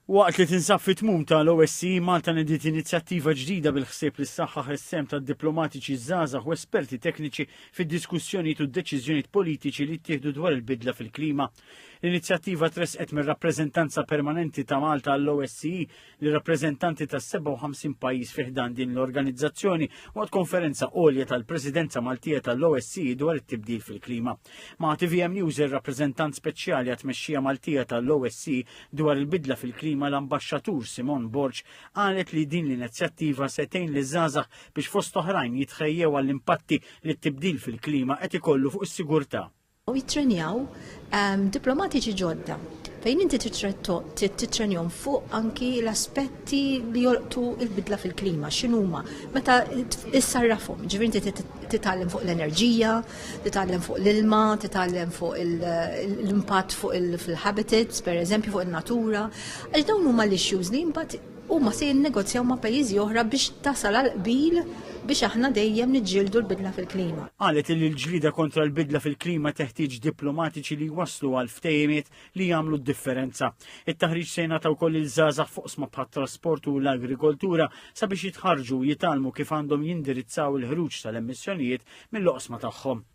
Waqt li tinsab fit-tmum ta' l-OSCE, Malta nediet inizjattiva ġdida bil-ħsieb li ssaħħaħ is-sehem tad-diplomatiċi żgħażagħ u esperti tekniċi fid-diskussjonijiet u d-deċiżjonijiet politiċi li jittieħdu dwar il-bidla fil-klima. L-inizjattiva tressqet mir-Rappreżentanza Permanenti ta' Malta għall-OSCE li rappreżentanti ta' 57 pajjiż fiħdan din l-organizzazzjoni waqt konferenza għolja tal-Presidenza Maltija tal-OSCE dwar it-tibdil fil-klima. Ma' TVM News ir-rappreżentant speċjali għat-tmexxija Maltija tal-OSCE dwar il-bidla fil-klima l-Ambaxxatur Simon Borġ qalet li din l-inizjattiva se tgħin li żgħażagħ biex fost oħrajn jitħejjew għall-impatti li t-tibdil fil-klima qed ikollu fuq is-sigurtà u jittrenjaw ehm, diplomatiċi ġodda fejn inti titrenjom fuq anki l-aspetti li jolqtu il-bidla fil-klima, x'inhuma. Meta issarrafhom, ġifieri inti titgħallem fuq l-enerġija, titgħallem fuq l-ilma, titgħallem fuq l-impatt fuq il-habitats, pereżempju fuq in-natura. Għax dawn huma l-issues li mbagħad Huma se jinnegozjaw ma' pajjiżi oħra biex tasal għal qbil biex aħna dejjem niġġieldu l-bidla fil-klima. Qalet li l-ġlieda kontra l-bidla fil-klima teħtieġ diplomatiċi li jwasslu għal ftehimiet li jagħmlu d-differenza. It-taħriġ se jingħata wkoll lil żgħażagħ f'oqsma bħat-trasport u l-agrikoltura sabiex jitħarrġu u jitgħallmu kif għandhom jindirizzaw il-ħruġ tal-emissjonijiet mill-oqsma tagħhom.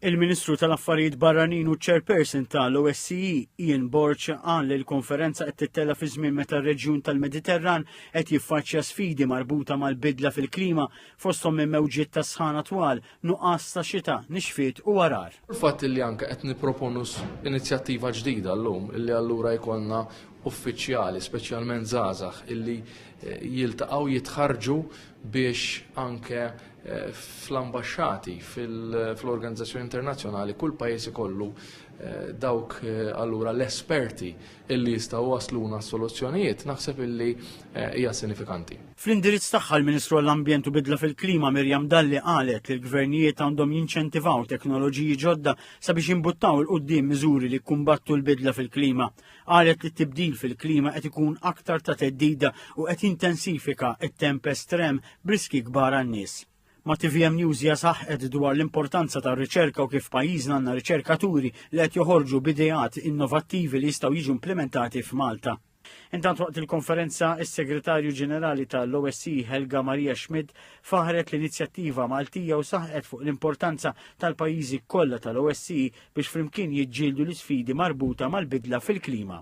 Il-Ministru tal-Affarijiet Barranin u Chairperson tal-OSCE, Ian Borg, qal li l-konferenza qed tittella fi żmien meta r-reġjun tal-Mediterran qed jiffaċċja sfidi marbuta mal-bidla fil-klima fosthom minn mewġiet ta' sħana twal, nuqqas ta' xita, nixfiet u għargħar. Il-fatt li anke qed nipproponu inizjattiva ġdida llum li allura jkollna uffiċjali, speċjalment żgħażagħ, illi jiltaqgħu jitħarrġu biex anke eh, fl-ambasċati, fl-organizzazzjoni internazzjonali, kull pajjiż ikollu eh, dawk eh, allura l-esperti illi jistgħu wasluna soluzzjonijiet naħseb illi hija sinifikanti. Fl-indirizz tagħha l-Ministru għall-Ambjent u Bidla fil-Klima Mirjam Dalli qalet li l-gvernijiet għandhom jinċentivaw teknoloġiji ġodda sabiex jimbuttaw il-qudiem miżuri li kumbattu l-bidla fil-klima. qalet li t-tibdil fil-klima qed ikun aktar ta' teddida u qed jintensifika t-temp estrem b'riski kbar għan-nies. Ma' TVM News hija saħqet dwar l-importanza tar-riċerka u kif pajjiżna għandna riċerkaturi li qed joħorġu b'ideat innovattivi li jistgħu jiġu implementati f'Malta. Intant waqt il-konferenza, is-Segretarju Ġenerali tal-OSC Helga Maria Schmidt faħret l-inizjattiva Maltija u saħqet fuq l-importanza tal-pajjiżi kollha tal-OSC biex flimkien jiġġieldu l-isfidi marbuta mal-bidla fil-klima.